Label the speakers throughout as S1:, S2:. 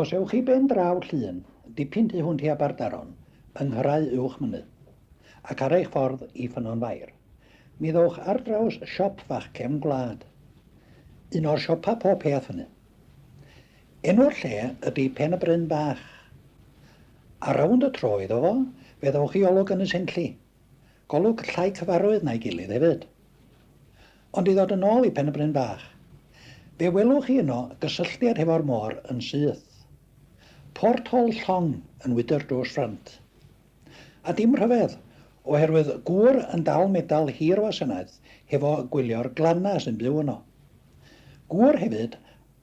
S1: Os ewch i ben draw llun, dipyn tu hwnt i Aberdaron, yng Nghrau Uwch Mynydd, ac ar eich ffordd i Ffynnon Fair, mi ddowch ar draws siop fach cefn gwlad. Un o'r siopa pob peth fyny. Enw'r lle ydi Pen y Bryn Bach. Ar rownd y tro iddo fo, fe ddowch i Olwg Ynys Enlli, Golwg llai cyfarwydd na'i gilydd hefyd. Ond i ddod yn ôl i Pen-y-bryn Bach. Fe welwch chi yno gysylltiad hefo'r môr yn syth. Port Hol Llong yn wydr drws ffrynt. A dim rhyfedd, oherwydd gŵr yn dal medal hir wasanaeth hefo gwylio'r glanna sy'n byw yno. Gŵr hefyd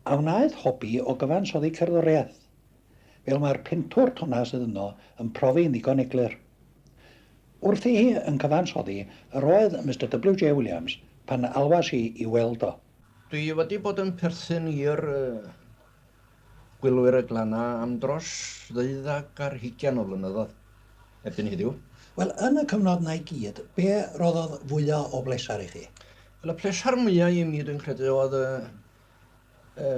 S1: a wnaeth hobi o gyfansoddi cerddoriaeth, fel mae'r pentwr tonna sydd yno yn profi'n ddigon eglur. Wrthi hi yn cyfansoddi yr oedd Mister WJ. Williams pan alwais i i weld o. Dwi wedi bod
S2: yn perthyn i'r Gwylwyr y Glannau am dros ddeuddag ar hugian o flynyddoedd erbyn heddiw. Wel, yn y
S1: cyfnod 'na i gyd, be' roddodd fwya' o bleser i chi? Wel, y pleser
S2: mwya' i mi dwi'n credu oedd y y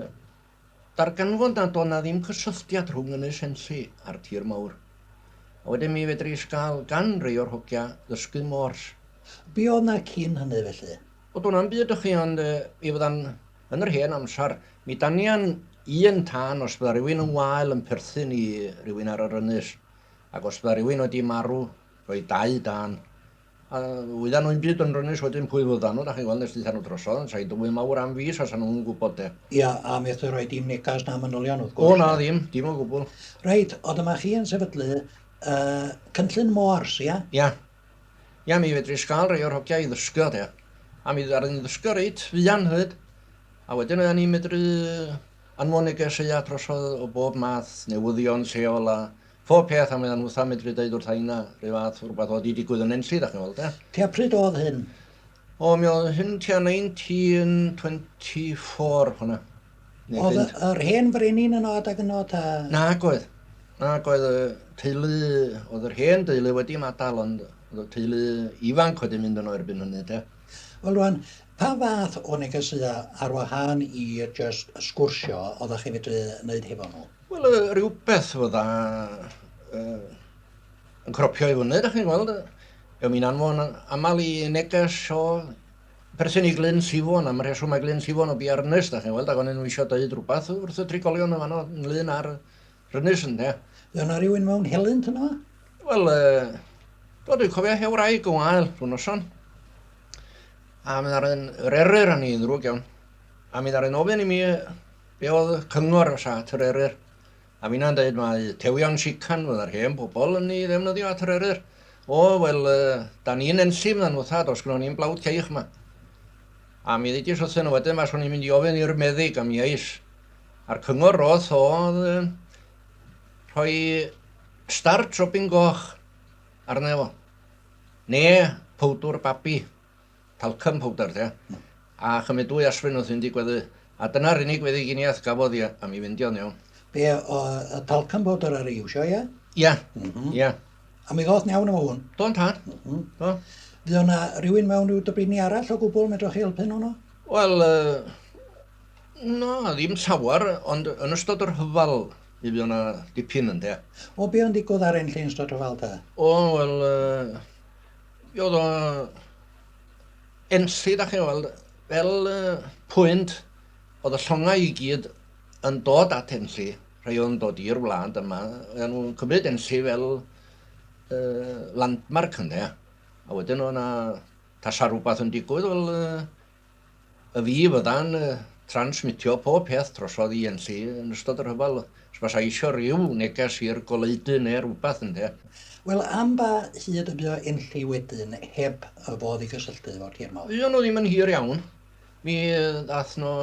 S2: Darganfod nad oedd 'na ddim cysylltiad rhwng Ynys Enlli a'r tir mawr. A wedyn mi fedris gael gan rei o'r hogia ddysgu Morse. Be oedd 'na
S1: cyn hynny felly? O do' 'na'm byd ychi
S2: ond mi fyddan yn yr hen amsar mi danian un tân os bydda rywun yn wael yn perthyn i rywun ar yr ynys ac os bydda rywun wedi marw roedd dau dân A oeddan nhw 'im byd yn rynnus wedyn pwy fyddan nhw, dach chi'n gweld, nes deutha nhw drosodd, yn sain dywydd mawr am fis a 'sa nhw'm yn gwybod de. Ia, a methu rhoi
S1: dim negas na manylion wrth gwrs. O na, ddim, dim o
S2: gwbl. Reit, o dyma
S1: chi yn sefydlu uh, cynllun Moors, ia? Ia.
S2: Ia, mi fedri sgael rei o'r hogia i ddysgu de. A mi ddaru ni ddysgu reit fuan hyd. A wedyn oedden ni'n medru anfon negeseuau trosodd o bob math, newyddion lleol a Pob peth a mae o'n hwtha medru deud wrth aina rhyw fath o rhywbeth oedd wedi digwydd yn Enlli, da chi'n weld e. Tua pryd oedd hyn?
S1: O, mi oedd
S2: hyn tua 1924 hwnna. Oedd
S1: yr hen frenin yn od ag yn od ta? Nag oedd.
S2: Nag oedd y teulu, oedd yr hen deulu wedi madal ond oedd y teulu ifanc wedi mynd yno erbyn hynny te. Wel rwan,
S1: pa fath o negesïau ar wahân i jyst sgwrsio oeddech chi fedru wneud hefo nhw? Wel, yy, rhywbeth
S2: fydda uh, yn cropio i fyny, da chi'n gweld. Be mi'n anfon aml i neges o perthyn i Glyn Sifon, am rheswm mae Glyn Sifon o bu ar ynys, da chi'n gweld, ac o'n nhw eisiau dweud rhywbeth wrth y trigolion yn fanno, ynglyn ar rynys ynde. Fe yna rhywun mewn
S1: helynt yna? Wel,
S2: uh, do, dwi'n cofio hew rai gwael rhywun noson. A mynd ar un rerir yn ei ddrwg iawn. A mynd ar un ofyn i mi Be oedd y cyngor ar Sat yr Eryr? A finna'n dweud mae tewion sican fydda'r hen bobl yn ei ddefnyddio at yr Eryr. O, wel, da ni'n enllif na nhw thad, os gynnon ni'n blawd ceich yma. A mi ddidis wrthyn nhw wedyn, mas o'n i'n mynd i ofyn i'r meddyg am iais. A'r cyngor roth oedd rhoi starch robin goch arna fo. Ne, powdwr babi. talcum powdr de, a chymryd dwy aspirin wrth fynd i gweddu, a dyna'r unig feddyginiaeth gafodd i am i fynd i o'n iawn. Be, o, y
S1: talcum powdr ar ei iwsio, ie? Ie, mhm. ie.
S2: A mi ddoth
S1: iawn efo hwn? Do'n tad, mhm.
S2: do. Fydd o'na
S1: rhywun mewn rhyw dybini arall o gwbl medrwch chi helpu nhw'n o? Wel,
S2: na, ddim llawer, ond yn ystod yr hyfal mi fydd o'na dipyn ynde. O, be o'n digwdd ar
S1: ein lle yn ystod yr hyfal ta? O, wel,
S2: Mi oedd o enlli, da chi'n weld, fel uh, pwynt, oedd y llongau i gyd yn dod at enlli, rhai oedd yn dod i'r wlad yma, oedd nhw'n cymryd enlli fel uh, landmark yna, a wedyn o'na tasa rhywbeth yn digwydd, wel, uh, Y fi fydda'n transmitio pob peth drosodd i Enlli yn ystod y rhyfel os fasa eisio ryw neges i'r goleudy neu rywbeth, ynde? Wel, am ba
S1: hyd y bu o Enlli wedyn heb y fodd i gysylltu efo'r tir mawr? Fuon nhw ddim yn hir iawn.
S2: Mi ddath nhw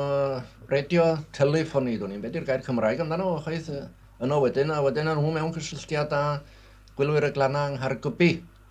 S2: radio telefoni, dwn i'm be di'r gair Cymraeg amdano fo chwaith, yno wedyn, a wedyn o' nhw mewn cysylltiad â gwylwyr y Glannau yng Nghaergybi.